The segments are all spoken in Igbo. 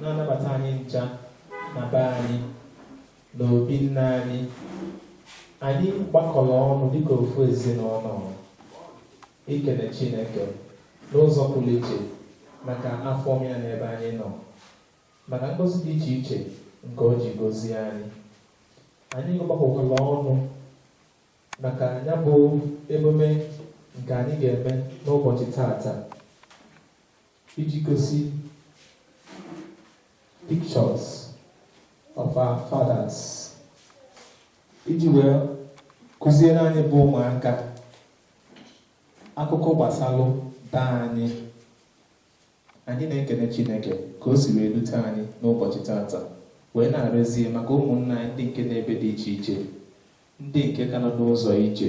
na-anabata anyị ncha na be anyị na obi nna anyị anyị gbakọlụ ọnụ dịka ofu ezinụnọ ikene Chineke n'ụzọ pụlụ iche maka afọ ọma ya n'ebe anyị nọ maka ngozi dị iche iche nke o ji gozie anyị anyị gbakọkwalụ ọnụ maka nya bụ emume nke anyị ga-eme n'ụbọchị tata iji gosi pictures of our fathers iji wee kụziere anyị bụ ụmụaka akụkọ gbasalụ daa anyị anyị na-ekene Chineke ka o si wee lute anyị n'ụbọchị tata wee na-arịọzie maka ụmụnna anyị ndị nke nọ ebe dị iche iche ndị nke ka nọ n'ụzọ ije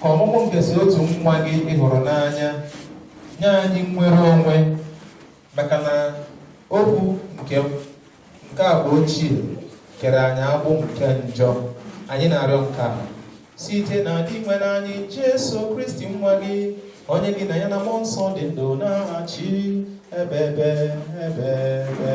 Ka ọmụmụ nke sọ otu nwa gị ị hụrụ n'anya nye anyị nnwere onwe maka na okwu nke nke agba ochie kere anyị agbụ nke njọ anyị na-arịọ nke a site na Dinwenụ anyị Jesu Kristi nwa gị onye gị na ya na mmụọ nsọ dị ndụ na-achị ebebe ebebe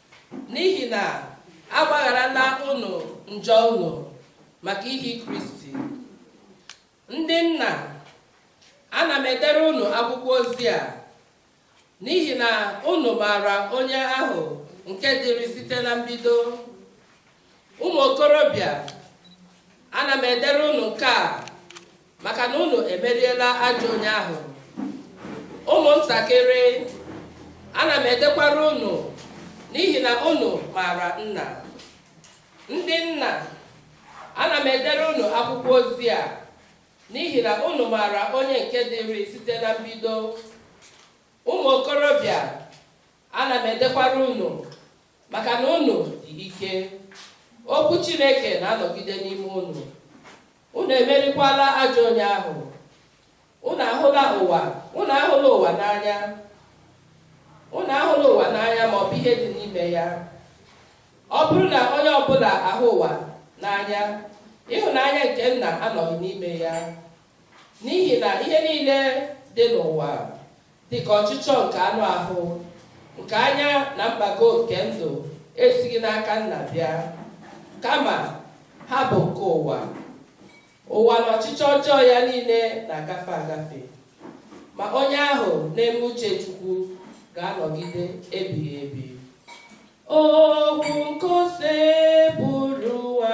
N'ihi na agbagharala unu njọ unu maka ihi Kristi. Ndị nna, ana m edere unu akwụkwọ ozi a n'ihi na unu maara onye ahụ nke dịrị site na mbido. Ụmụ okorobịa, ana m edere unu nke a maka na unu emeriela ajọ onye ahụ ụmụntakịrị ana m edekwara unu n'ihi na unu maara nna ndị nna ana m edere unu akwụkwọ ozi a n'ihi na unu maara onye nke dịrị site na mbido ụmụ okorobịa ana m edekwara unu maka na unu dị ike okwu Chineke na-anọgide n'ime unu unu emerikwala ajọ onye ahụ unu ahụla ụwa unu ahụla ụwa n'anya unu ahụla ụwa n'anya ma ọ bụ ihe dị n'ime ya ọ bụrụ na onye ọbụla ahụ ụwa n'anya ịhụnanya nke nna anọghị n'ime ya n'ihi na ihe niile dị n'ụwa dị ka ọchịchọ nke anụ ahụ nke anya na mpako nke ndụ esighị n'aka nna bịa kama ha bụ nke ụwa ụwa na ọchịchọ ọjọọ ya niile na-agafe agafe ma onye ahụ na-eme uche Chukwu ga-anọgide ebighị ebi okwu nke Osebụrụwa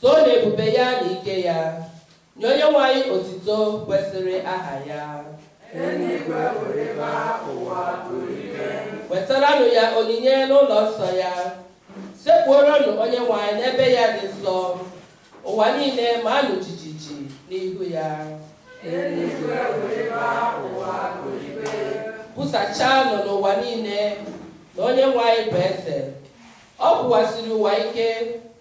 Toonu ebube ya na ike ya, nye Onyenwe anyị otuto kwesịrị aha ya. Eluigwe ṅụrịba, ụwa ṅụrịbe. Wetaranụ ya onyinye n'ụlọ nsọ ya, sekpuoronụ Onyenwe anyị n'ebe ya dị nsọ, ụwa niile maanụ jijiji n'ihu ya. Eluigwe ṅụrịba, ụwa ṅụrịbe. Kwusachaanụ n'ụwa niile na Onyenwe anyị bụ eze, ọ kwụwasịrị ụwa ike,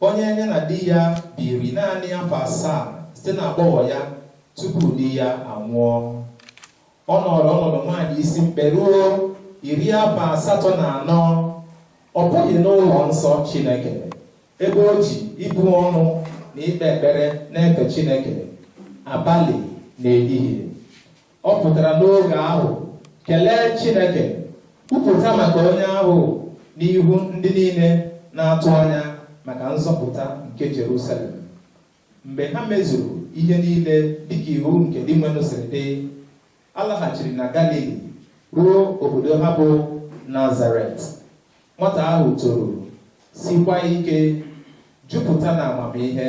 Onye ya na di ya biri naanị afọ asaa site na agbọghọ ya tupu di ya anwụọ. Ọ nọrọ ọnọdụ nwaanyị isi mkpe ruo iri afọ asatọ na anọ. Ọ pụghị n'ụlọ nsọ Chineke ebe o ji ibu ọnụ na ikpe ekpere na-efe Chineke abalị na ehihie. Ọ pụtara n'oge ahụ kelee Chineke kwupụta maka onye ahụ n'ihu ndị niile na-atụ anya maka nzọpụta nke Jerusalem mgbe ha mezuru ihe niile dịka iwu nke Dinwenụ siri dị ha laghachiri na Galili ruo obodo ha bụ Nazaret nwata ahụ toro sikwa ike jupụta na amamihe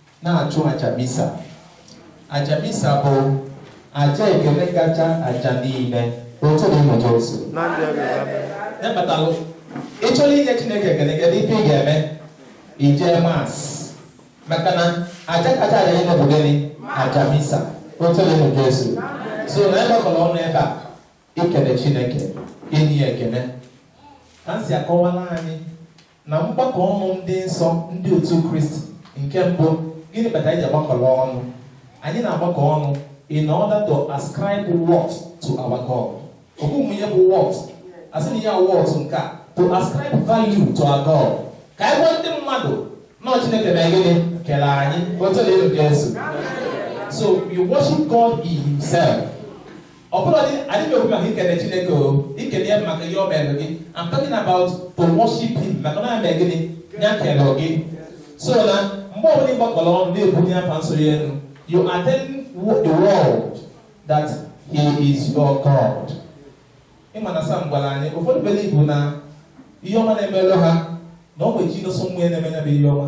na-achụ aja misa aja misa bụ aja ekele kacha aja niile otito dịrị Jesu otu emetalụ ị chọrọ inye chineke ekele kedu ife ị ga-eme ị jee Mass maka na aja kacha aja niile bụ gịnị aja misa otito dịrị Jesu so na anyị gbakọrọ ọnụ ebe a ikele chineke inye ya ekele ka m si akọwala anyị na mgbakọ ọnụ ndị nsọ ndị otu kristi nke mbụ gịnị kpatara anyị ji agbakọrọ ọnụ anyị na-agbakọ ọnụ in order to ascribe worth to our god ọ bụghị ihe bụ worth a sị na ihe worth nke a to ascribe value to our god ka anyị gwa ndị mmadụ na chineke na gịnị kere anyị otito dịrị Jesu so you worship god in himself ọ bụla dị anyị na-ekwu maka ikele chineke or ikele ya maka ihe o mere gị I'm talking about to worship him maka na eme gịnị ya kele gị so na mgbe ọ bụla ị gbakọrọ ọnụ na-ebunye afa nsọ ya elu you are telling the world that he is your God ị ma na Psalm gwara anyị ụfọdụ believe na ihe ọma na-emelụ ha na ọ nwere chi nọsọ mmụọ na-eme ya bụ ihe ọma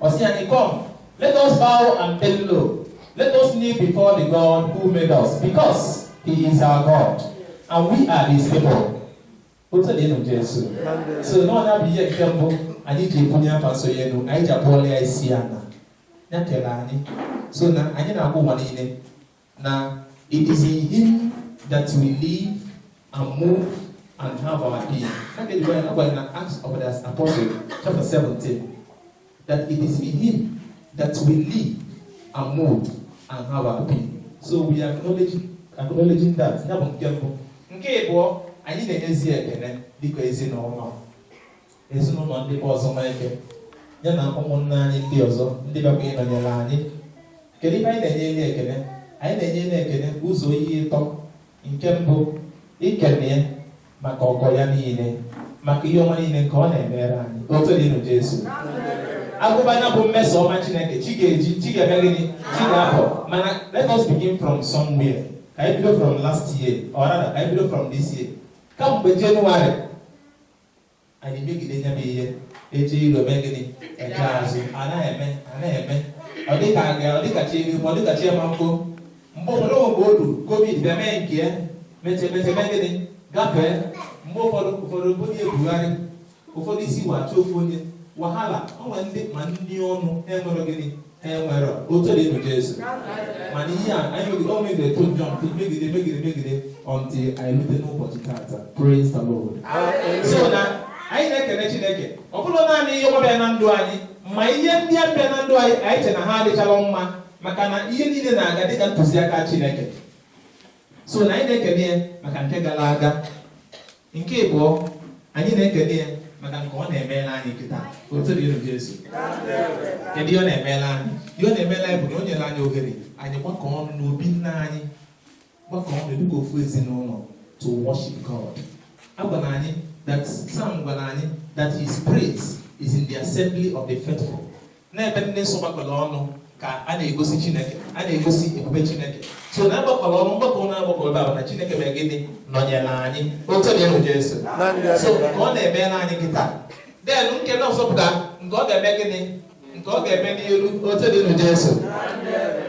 Ọ sị anyị, Come, let us bow and bend low. Let us kneel before the God who made us, because he is our God, and we are his people. Otito dịrị Jesu. So na ọ nya bụ ihe nke mbụ anyị ji ebunye afa nsọ ya elu, anyị ji akpọlụ ya isi ala. Ya kere anyị. So na anyị na-agwa ụwa niile Now, it is in Him that we live and move and have our being. That is why when in Acts of the Apostle, chapter 17, that it is in Him that we live and move and have our being. So we are acknowledging, acknowledging that. Ya bụ nke mbụ. Nke ịbụọ, anyị na-enyezi ekele dịka ezinụlọ. ezinụlọ ndị bụ ọzọ n'ike ya na ụmụnna anyị ndị ọzọ ndị bịakwa ịnọnyere anyị kedu ihe anyị na-enyere ekele anyị na-enyere ekele ụzọ ihe ịtọ nke mbụ ikele ya maka ọgọ ya niile maka ihe ọma niile nke ọ na-emere anyị otito dịrị Jesu a gụba ya bụ mmeso ọma Chineke chi ga-eji chi ga-eme gịnị chi ga-abọ mana let us begin from somewhere ka anyị bido from last year or rather ka anyị bido from this year kamgbe January anyị megide ya bụ ihe eje iru mee gịnị eje azụ a na-eme a na-eme ọ dịka aga ọ dịka chi iri ọ dịka chi ma nkụ mgbe ụfọdụ mgbe o ruru covid bịa mee nke ya meche meche mee gịnị gafee mgbe ụfọdụ ụfọdụ bụ onye ebugharị ụfọdụ isi wachi ofu onye wahala o nwere ndị ma ndị ọnwụ mere gịnị enwere otito dịrị Jesu mana ihe a anyị megide ọ megide to jump megide megide megide until anyị rute n'ụbọchị tata praise the Lord so na anyị na-ekele Chineke ọ bụrọ naanị ihe ọma bịa na ndụ anyị ma ihe ndị a bịa na ndụ anyị anyị che na ha adịchala mma maka na ihe niile na-aga dịka ntụziaka Chineke so na anyị na-ekele ya maka nke gara aga nke ịbụọ anyị na-ekele ya maka nke ọ na-emere anyị kịta otito dịrị Jesu kedu ihe ọ na-emere anyị ihe ọ na-emere anyị bụ na o nyere anyị ohere anyị gbakọ ọnụ n'obi nna anyị gbakọ ọnụ dịka ofu ezinụlọ to worship God a gwara anyị that Psalm gwara anyị that his praise is in the assembly of the faithful n'ebe ndị nsọ gbakọrọ ọnụ ka a na-egosi chineke a na-egosi ebube chineke so na agbakọrọ ọnụ mgbakọ na agbakọrọ ebe a na chineke mere gịnị nọnyere anyị otito dịrị jesu so nke ọ na-emere anyị kịtaa then nke na ọzọpụta nke ọ ga-eme gịnị nke ọ ga-eme n'iru otito dịrị jesu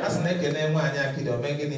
a sị na e kene nwaanyị akịdị o mee gịnị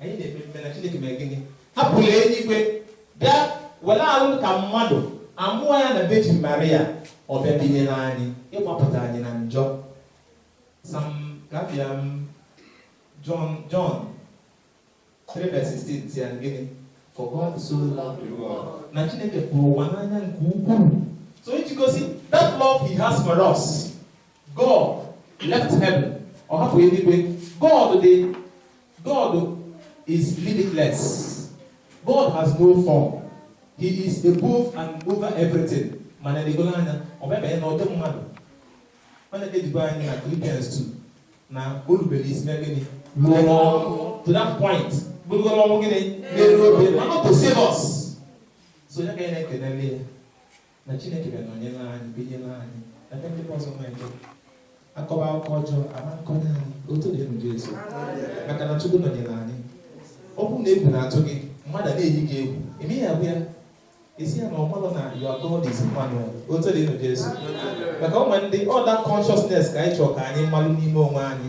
anyị na-ekpe ekpe na Chineke mere gịnị hapụrụ eluigwe bịa were ahụ ka mmadụ a mụọ ya na Virgin Maria ọ bịa binyere anyị ịgbapụta anyị na njọ sam gabịa m John John 3 verse 16 sị ya gịnị for God so loved the world na Chineke hụrụ ụwa n'anya nke ukwuu so iji gosi that love he has for us God left heaven ọ hapụ eluigwe God dị God is limitless. God has no form. He is above and over everything. Mana elegolo anya, ọ bịa banye n'ụdị mmadụ. Mana edibo anyị na Philippians 2 na o rubere isi na gịnị? Ruo n'ọnwụ. To that point, bụrụgodu ọnwụ gịnị? N'elu obe, mana ọ to save us. So ya ka anyị na-ekenele ya. na Chineke bịa nọnyere anyị binyere anyị ebe ndị ọzọ na-eje akọba akụkọ ọjọọ ama akọnye anyị otito dịrị Jesu maka na Chukwu nọnyere anyị ọ bụrụ na egwu na-atụ gị mmadụ na-eyi gị egwu eme ya bụ ya esi ya na ọmalụ na your God is Emmanuel otito dịrị Jesu maka ụmụ ndị ọda consciousness ka anyị chọrọ ka anyị malụ n'ime onwe anyị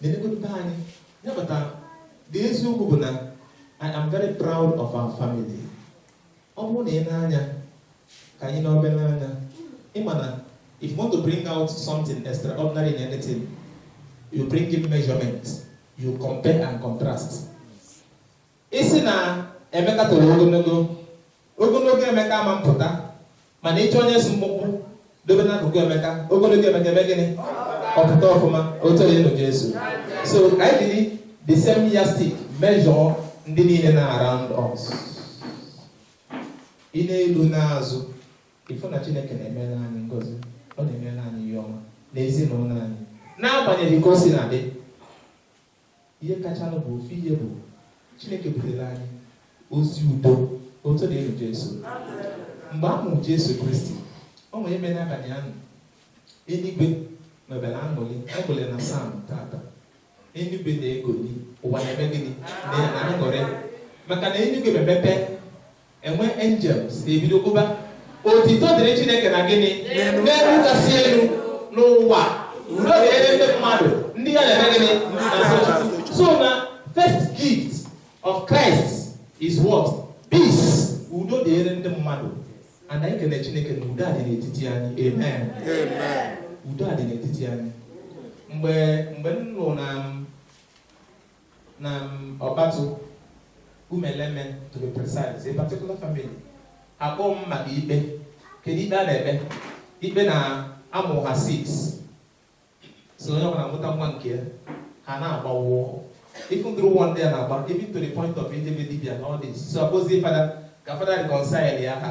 Nenegwepụta anyị nyabata dị eziokwu bụ na I am very proud of our family. Ọ bụrụ na ị na-anya ka anyị n'obe n'anya ị ma na if you want to bring out something extraordinary in anything you bring in measurement you compare and contrast Ị sị na Emeka toro ogologo, ogologo Emeka ama mpụta, mana ị chọọ onye si mkpụmkpụ dobe n'akụkụ Emeka, ogologo Emeka eme gịnị? Ọ pụta ọfụma, otito dịrị Jesu. So ka anyị jiri the same yardstick measure ndị niile nọ around us. Ị na-elu n'azụ, ị fụ na Chineke na-emere anyị ngozi, ọ na-emere anyị ihe ọma n'ezinụlọ anyị, n'agbanyeghị ka o sina dị. Ihe kachanụ bụ ofu ihe bụ Chineke butere anyị ozi udo otito dịrị Jesu mgbe a mụrụ Jesu Kristi o nwere ebe n'abalị ahụ eluigwe mebere aṅụrị aṅụrị na Psalm tata eluigwe na-egoli ụwa na-eme gịnị na-aṅụrị maka na eluigwe mepere enwe angels na-ebido kụba otito dịrị chineke na gịnị n'elu kasị elu n'ụwa udo dịrị ndị mmadụ ndị ihe ha na-eme gịnị so na first gift of christ is what peace udo dịrị ndị mmadụ ana anyị kele chineke na udo dị n'etiti anyị amen udo dị n'etiti anyị mgbe mgbe m nọ na Na Ọbatụ, Umeleme to be precise, a particular family, a kpọ m maka ikpe. Kedu ikpe a na-ekpe? Ikpe na a mụ ha 6 so onye ọbụla mụta nwa nke ya ha na-agbawo ifu ndụrụ ụwa ndị a na-agba even to the point of eje be dibịa na ọ dị so a kpọzie fada ka fada reconcile ya ha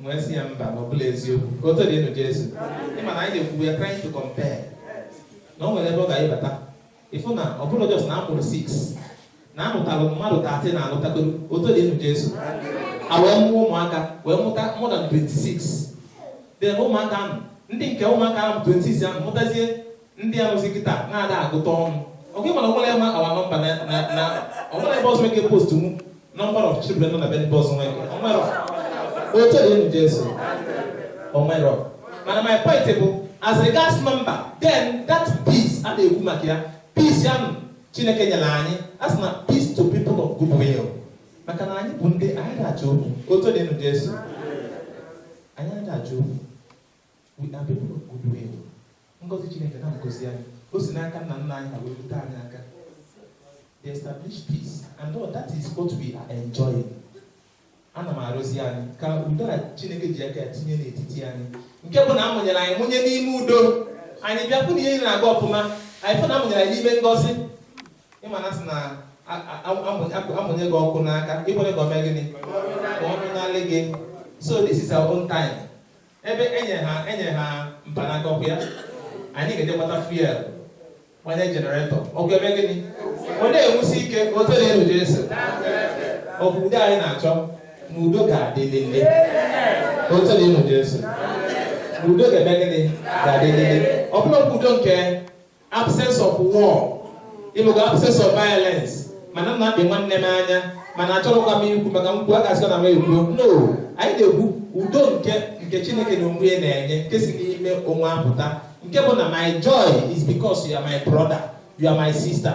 m wee sị ya mba na ọ bụrọ eziokwu ka otito dịrị Jesu ị ma na anyị na-ekwu we are trying to compare na o nwere ebe ọ ga-ebata ị fụ na ọ bụrụ just na a mụrụ 6 na a mụtalụ mmadụ 30 na alụtago otito dịrị Jesu a wee mụọ ụmụaka wee mụta more than 26 dị na ụmụaka ahụ ndị nke ụmụaka ahụ 26 ahụ mụtazie ndị a nọzi kịta na-ada agụta ọnụ ọgụ ị ma na o nwere ma our number na na o nwere ebe ọzọ eke post mu number of children nọ na be ndị ọzọ nwere o nwere otito dịlị nụ jesu o nwere mana my point bụ as regards number then that peace a na-ekwu maka ya peace ya nụ chineke nyere anyị a sị na peace to people of good will maka na anyị bụ ndị anyị ada achọ okwu otito dịlị nụ jesu anyị ada achọ okwu We are people of good will. Ngozi Chineke na ngozi anyị. O si n'aka nna nna anyị ha wee rute anyị aka. They establish peace and all that is what we are enjoying. Ana m arịọzi anyị ka udo a Chineke ji aka tinye n'etiti anyị nke bụ na a mụnyere anyị mụnye n'ime udo anyị bịakwụ na ihe na-aga ọfụma anyị fụ na a mụnyere anyị n'ime ngozi ị ma na a sị na a mụnye gị ọkụ n'aka ị kwena ka o mee gịnị ka ọ nyụọ n'aka gị so this is our own time Ebe e nyere ha e nyere ha mpanaka ọkụ ya, anyị ga-eje gbata fuel gbanye generator ọkụ eme gịnị ọ na-enwusi ike otito dịlị nụ Jesu ọ bụ udo anyị na-achọ na udo ga-adịlịlị otito dịlị nụ Jesu na udo ga-eme gịnị ga-adịlịlị ọ bụrọ okwu udo nke absence of war ọ bụkwa absence of violence mana m na-akpị nwanne m anya mana achọrọkwa m ikwu maka m kwuo a ga-asịkwa na m ekwuo no anyị na-ekwu udo nke nke chineke n'onwe ya na-enye nke si n'ime onwe apụta nke bụ na my joy is because you are my brother you are my sister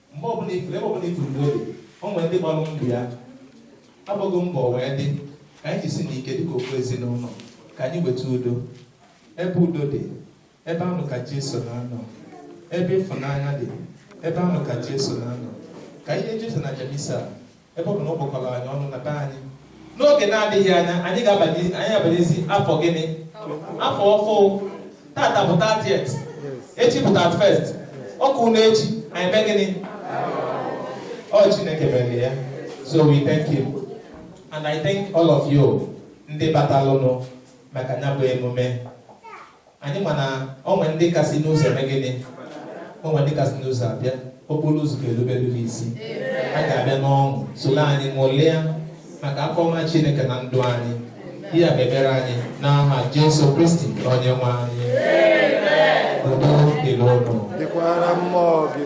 mgbe ọbụla ị fụrụ ebe ọbụla ị fụrụ udo o nwere ndị gbalụ mbọ ya agbago mbọ wee dị ka anyị jisienụ ike dịka ofu ezinụlọ ka anyị weta udo ebe udo dị ebe ahụ ka Jesu na-anọ ebe ịfụnanya dị ebe ahụ ka Jesu na-anọ ka anyị yọọ Jesu n'aja misa ebe ọ bụ na ọ kpọkọrọ anyị ọnụ na be anyị n'oge na-adịghị anya anyị ga-abanye anyị abanyezi afọ gịnị afọ ọfụ tata bụ 30th echi bụ 31st ọkwa na echi anyị mee gịnị ọ chineke mere ya so we thank him and i thank all of you ndị batalụnụ maka ya bụ emume anyị ma na o nwe ndị ka si n'ụzọ eme gịnị o nwe ndị ka si n'ụzọ abịa okporo ụzọ ga-erubere ha isi ha ga-abịa n'ọṅụ soro anyị ṅụlịa maka afọ ọma chineke na ndụ anyị ihe a mebere anyị n'aha jesu kristi onye nwe anyị udo dịrị ụnụ dịkwara mmụọ gị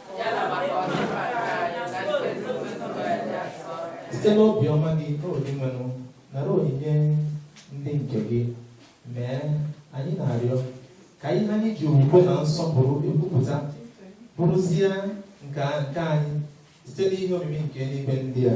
site n'obiọma gị o dinwenụ nara onyinye ndị nke gị mee anyị na-arịọ ka ihe anyị ji okwukwe na nsọpụrụ ekwupụta bụrụzie nke anyị site n'ihe omimi nke eluigwe ndị a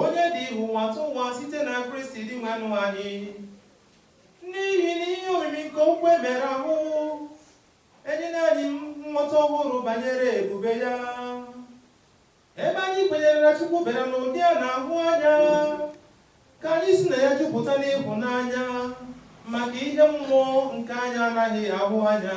onye dịrị ụwatụwa site na Kristi Dinwenụ anyị n'ihi na ihe omimi nke okwu e mere ahụ enyela anyị nghọta ọhụrụ banyere ebube ya ebe anyị kwenyere na Chukwu bịara n'ụdị a na-ahụ anya ka anyị si na ya jupụta n'ịhụnanya maka ihe mmụọ nke anyị anaghị ahụ anya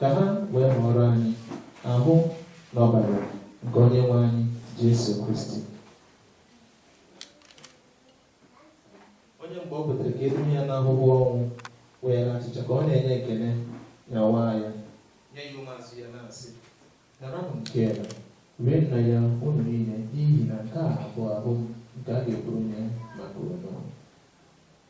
ka ha wee ghọọrọ anyị ahụ na ọbara nke onye nwe anyị Jesu Kristi onye mgbe ọ pụtara ka e duru ya n'ahụhụ ọnwụ weere achịcha ka ọ na-enye ekele nyawaa ya nye ya ụmụazụ ya na-asị naranụ nke a rienụ ya unu niile n'ihi na nke a bụ ahụ m nke a ga-ekuru nye maka unu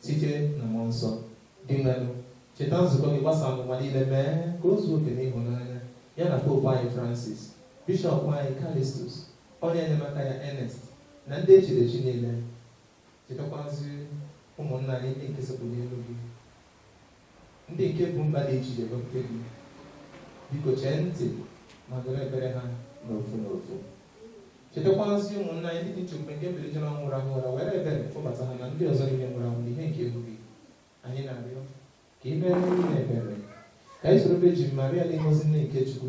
Site na Mmụọ Nsọ, Dinwenụ, cheta nzukọ gị gbasara ụwa niile, mee ka o zuo oke n'ịhụnanya, ya na Popu anyị Francis, Bishọp anyị Callistus, onye enyemaka ya Ernest, na ndị e chiri echi niile. Chetakwazi ụmụnna anyị ndị nke sekpu n'ihu gị. Ndị nke bu mkpa dị iche iche bụ nke gị, biko chee ntị ma nụrụ ekpere ha n'ofu n'ofu. Chetakwazi ụmụnna anyị ndị ji nchekwube nke mbilite n'ọnwụ rahụ ụra were ebere kpọbata ha na ndị ọzọ niile nwụrụ anwụ n'ihe nke ihu gị. Anyị na-arịọ ka i meere anyị ebere ka anyị soro Vejin Maria dị ngọzi nne nke Chukwu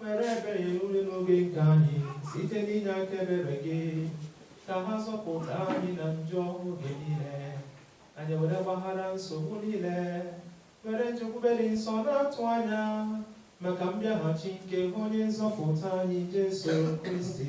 Were ebere nye udo n'oge nke anyị site n'inye aka ebere gị ka a zọpụta anyị na njọ oge niile anyị were gbaghara nsogbu niile were nchekwube dị nsọ na-atụ anya maka mbịaghachi nke onye nzọpụta anyị Jesu Kristi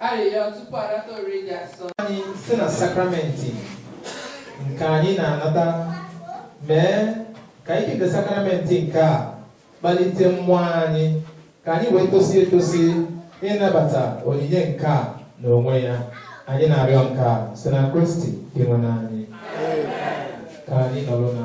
arịrịọ tupu a nata oriri dị asọ anyị si na sakramenti nke anyị na-anata mee ka ike nke sakramenti nke a kpalite mmụọ anyị ka anyị wee tosi etosi ịnabata onyinye nke a n'onwe ya anyị na-arịọ nke a site na Kristi Dinwenụ anyị ka anyị nọrọ na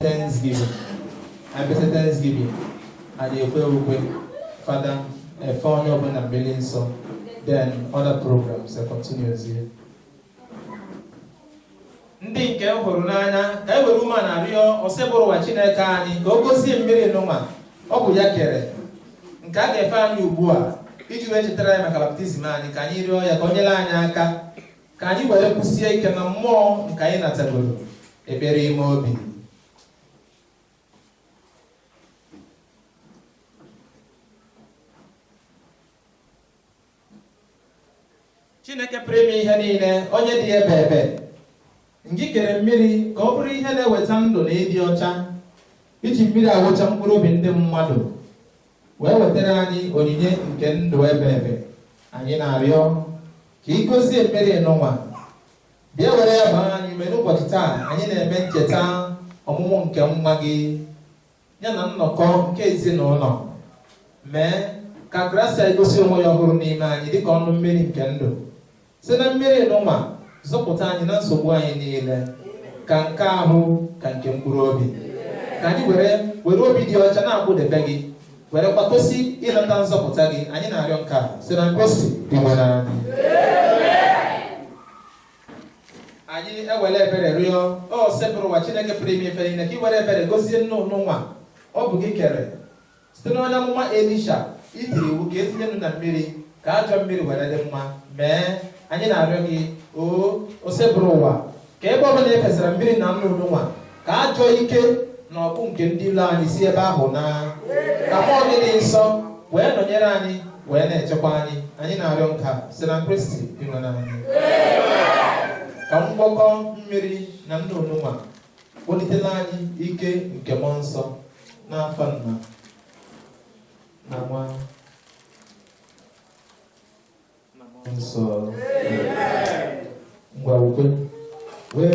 Thanksgiving. I better Thanksgiving. And you pray with Father, a phone open and billing so then other programs that continues here. ndị nke m hụrụ n'anya ka anyị were umeana rịọ Osebụrụwa Chineke anyị ka ọ gọzie mmiri nụwa ọ bụ ya kere nke a ga-efe anyị ugbu a iji wee chetara anyị maka baptizim anyị ka anyị rịọ ya ka o nyere anyị aka ka anyị were kwụsie ike na mmụọ nke anyị natagoro ekpere ime obi chineke pụrụ ime ihe niile onye dị ebebe ngị kere mmiri ka ọ bụrụ ihe na-eweta ndụ na ịdị ọcha i ji mmiri awụcha mkpụrụ obi ndị mmadụ wee wetara anyị onyinye nke ndụ ebebe anyị na-arịọ ka ị gọzie mmiri nụnwa bịa were ya gbaa anyị ume n'ụbọchị taa anyị na-eme ncheta ọmụmụ nke nwa gị ya na nnọkọ nke ezinụlọ mee ka grasia egosi onwe ya ọhụrụ n'ime anyị dịka ọnụ mmiri nke ndụ si na mmiri nụnwa zọpụta anyị na nsogbu anyị niile ka nke ahụ ka nke mkpụrụ obi ka anyị were were obi dị ọcha na-akwụdebe gị werekwa tosi ịnata nzọpụta gị anyị na-arịọ nke a si na kristi dinwenụ anyị anyị ewere ebere rịọ osebụrụwa chineke pụrụ ime ife niile ka ị were ebere gọzie nnu nụnwa ọ bụ gị kere site n'onye amụma elisha i tiri iwu ka e tinye nnu na mmiri ka ajọ mmiri were dị mma mee anyị na-arịọ gị o osebụrụwa ka ebe ọbụla e fesara mmiri na nnu nụnwa ka ajọ ike na ọgụ nke ndị ilo anyị si ebe ahụ naa ka mmụọ gị dị nsọ wee nọnyere anyị wee na-echekwa anyị anyị na-arịọ nka si na kristi dinwenụ anyị ka ngwakọ mmiri na nnu nụnwa Kpọlitela anyị ike nke mmụọ nsọ n'afa nna na nwa na mmụọ nsọ ngwa ukwe wee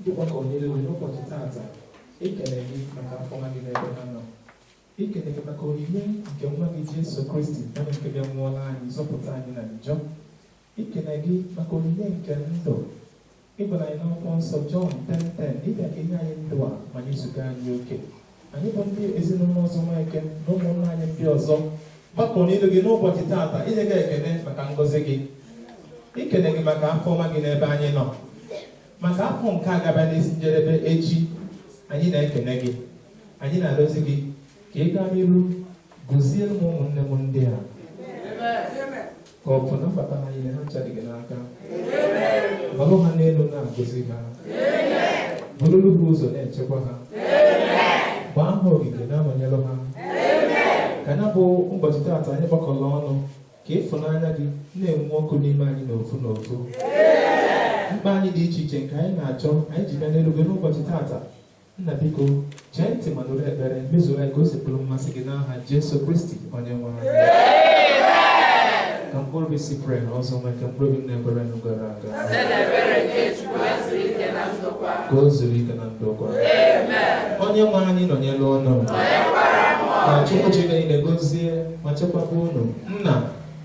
Ndị gbakọ niile were ụbọchị taata ekele gị maka afọ ọma gị n'ebe ha nọ ikele gị maka onyinye nke nwa gị Jesu Kristi onye nke bịa nwụọla anyị zọpụta anyị na njọ ikele gị maka onyinye nke ndụ ị gwala anyị n'akwụkwọ nsọ Jọn 10:10 ị bịa ka i nye anyị ndụ a ma nyezuga anyị oke anyị bụ ndị ezinụlọ ọzọ Nweke na ụmụnna anyị ndị ọzọ gbakọ n'ilu gị n'ụbọchị taata inye gị ekele maka ngọzi gị ikele gị maka afọ ọma gị n'ebe anyị nọ maka afọ nke a gaba n'isi njedebe echi anyị na-ekele gị anyị na-arịọzi gị ka ị gaa n'iru gọzielụ m ụmụnne m ndị a ka ọpụpụ na mbata ha niile ha ncha dị gị n'aka balụ ha n'elu na-agọzi ha bururu ha ụzọ na-echekwa ha gbaa ha ogige na-anọnyelụ ha ka ya bụ ụbọchị taata anyị gbakọrọ ọnụ ka ịfụnanya gị na-enwu ọkụ n'ime anyị n'ofu n'ofu mkpa anyị dị iche iche nke anyị na-achọ anyị ji bịa n'ilu gị n'ụbọchị taata Nna biko chee ntị ma nụrụ ekpere mezuru anyị ka o si bụrụ mmasị gị n'aha Jesu Kristi onye nwe anyị ka mkpụrụ obi Cyprian Ọzọ Nweke mkpụrụ obi ndị kwere nụ gara aga ka o zuru ike na ndokwa onye nwe anyị nọnyere unu ka Chukwu ji ike niile gozie ma chekwaba unu nna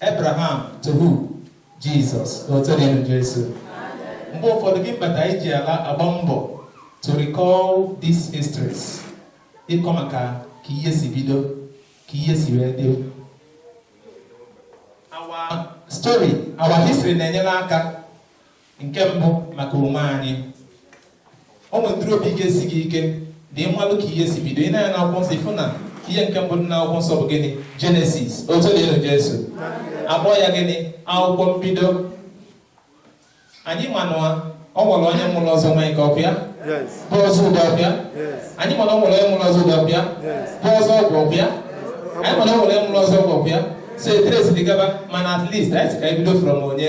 Abraham to who? Jesus. Otito dịrị nụ Jesu. Mgbe ụfọdụ ihe kpata e ji a na-agba mbọ to recall these histories. Ịkọ maka ka ihe si bido, ka ihe si wee dị. Our story, our history na-enyere aka nke mbụ maka onwe anyị o nwetụrụ obi ga-esi gị ike ma ị malụ ka ihe si bido i nee anya n'akwụkwọ nsọ ị fụ na ihe nke mbụ dị n'akwụkwọ nsọ bụ gịnị genesis otito dịrị jesu a kpọ ya gịnị akwụkwọ mbido anyị ma na o nwere onye mụrụ ọzọ nweke ọkwa ya bụ ọzọ ụdọ ọkwa ya anyị ma na o nwere onye mụrụ ọzọ ụdọ ọkwa ya bụ ọzọ ọgwụ ọkwa ya anyị ma na o nwere onye mụrụ ọzọ ọgwụ ọkwa ya so eteresiri gaba mana at least anyị si ka anyị bido from onye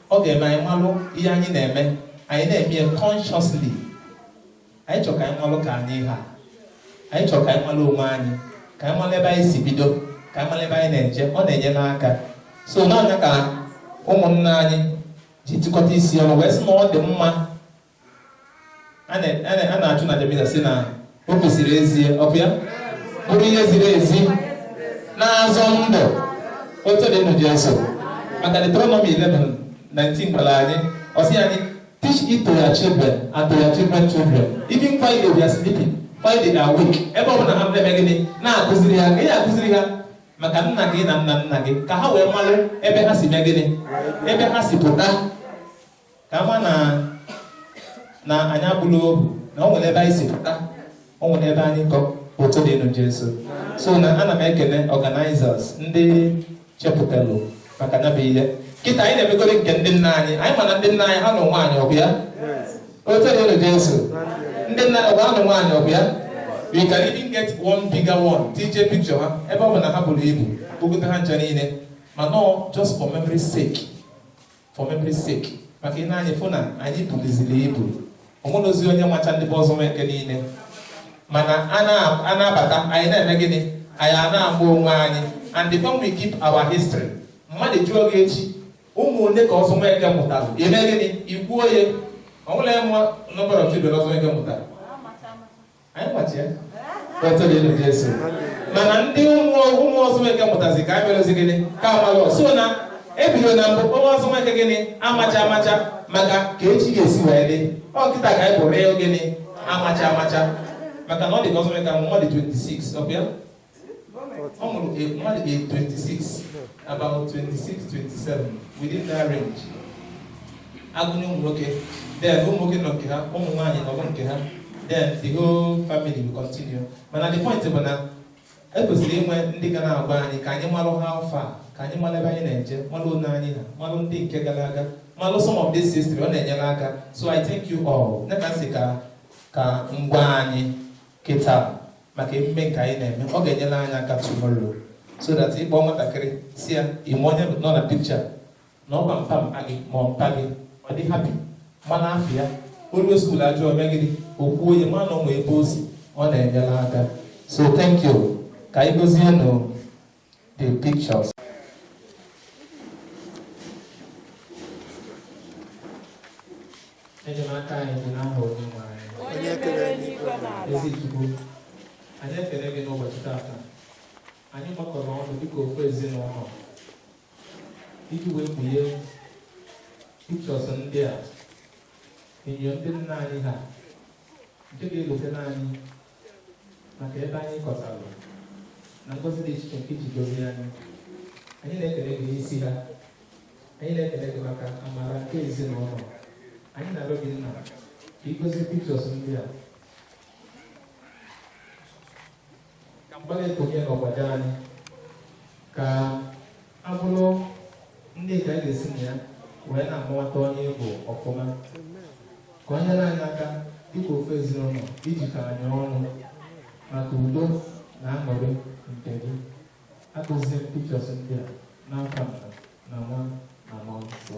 ọ ga-eme anyị malụ ihe anyị na-eme anyị na-eme ya consciously anyị chọrọ ka anyị malụ ka anyị ha anyị chọrọ ka anyị malụ onwe anyị ka anyị malụ ebe anyị si bido ka anyị malụ ebe anyị na-eje ọ na-enyere aka so na nya ka ụmụnna anyị ji tịkọta isi ọnụ wee sị na ọ dị mma a na-achụ aja Misa a sị na o kwesịrị ezie ọkwa ya bụrụ ihe ziri ezi na-azọ ndụ otito dịrị nụ Jesu maka Deuteronomy 11:19 gwara anyị ọ sị anyị teach it to your children and to your children children even while they are sleeping while they are awake ebe ọ bụla ha na-eme gịnị na-akụziri ha ka ị kụziri ha maka nna gị na nna nna gị ka ha wee malụ ebe ha si mee gịnị ebe ha si pụta ka ha ma na na anyị abụrọ ohu na o nwere ebe anyị si pụta o nwere ebe anyị kwụ otito dịrị nụ jesu so na ana m ekele organizers ndị chepụtalụ maka ya bụ ihe kịta anyị na-emegoro nke ndị nna anyị anyị ma na ndị nna anyị ha na nwaanyị ọ bụ ya otito dịrị nụ jesu ndị nna ọ bụ ha na nwaanyị ọ bụ ya we can even get one bigger one tj picture ha ebe ọ bụ na ha buru ibu e gote ha ncha niile ma nọ just for memory sake for memory sake maka i nee anya ị fụ na anyị buruziri ibu o nwerọzi onye macha ndị be ọzọ nweke niile mana a na-abata anyị na-eme gịnị anyị a na-ama onwe anyị and then when we keep our history mmadụ jụọ gị echi ụmụ ole ka ọzọ nweke mụtara i mee gịnị i kwuo ya o nwere mụọ nọbara chidere ọzọ nweke mụtara anyị macha otu dị elu Jesu mana ndị ụmụ ụmụ Ọzọ Nweke mụtazi ka anyị melụzi gịnị ka amalụ so na ebido na mbụ ụmụ Ọzọ Nweke gịnị amacha amacha maka ka echi ga-esi wee dị ọ kịta ka anyị pụrụ ịhụ gịnị amacha amacha maka na ọ dị ka Ọzọ Nweke amụ ọ dị 26 ọ bụ ya ọ mụrụ mmadụ ga 26 about 26 27 within that range agụnye ụmụ nwoke then ụmụ nwoke nọ nke ha ụmụ nwaanyị nọbụ nke ha then the whole family will continue mana the point bụ na ekwesịrị inwe ndị ga na-agwa anyị ka anyị malụ ha afọ a ka anyị mara ebe anyị na-eje malụ onye anyị ha malụ ndị nke gara aga malụ some of this history ọ na-enyere aka so i thank you all na ka si ka ka ngwa anyị kịta maka emume nke anyị na-eme ọ ga-enyere anyị aka tomorrow so that ị kpọ nwatakịrị sị ya ị ma onye nọ na picture na ọ bụ mpa mpa gị ma mpa gị ọ dị happy mana afụ ya o lue school ajụọ megịrị okwu onye ma na ọ ma ebe o si ọ na-enyere aka so thank you ka anyị gọzie nụ the pictures. enyemaka anyị dị n'aha onye nwe anyị Onye kere eluigwe na ala. ezi chukwu anyị ekele gị n'ụbọchị tata anyị gbakọrọ ọnụ dịka ofu ezinụlọ iji wee kpughe pictures ndị a enyo ndị nna anyị ha nke ga-echetere anyị maka ebe anyị kọtara na ngọzi dị iche nke i ji gọzie anyị anyị na-ekele gị n'isi ha anyị na-ekele gị maka amara nke ezinụlọ anyị na-arịọ gị nna ka ị gọzie pictures ndị a ka mgbalị konye n'ọgbada anyị ka ha bụrụ ndị ka anyị ga-esi na ya wee na-amata onye ị bụ ọfụma ka o nyere anyị aka dịka ofu ezinụlọ ijikọ anyị ọnụ maka udo na aṅụrị nke gị agọzie m pictures ndị a n'aha nna na nwa na mmụọ nsọ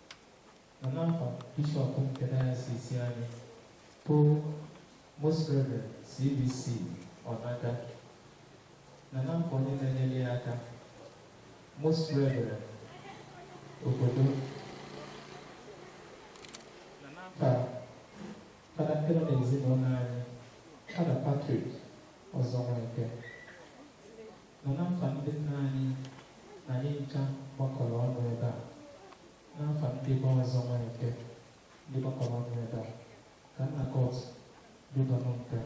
Na n'afa Bishọp nke Dayọsis anyị bụ Most Reverend CVC Ọnaga na n'afa onye na-enyere ya aka Most Reverend Obodo na n'afa fada ndị nọ n'ezinụlọ anyị fada Patrick Ọzọ Nweke nna nna m fa ndị nna anyị na anyị ncha gbakọrọ ọnụ ebe a nna m fa ndị be ọzọ nwa eke ndị gbakọrọ ọnụ ebe a ka nna kot bidonụ nke a.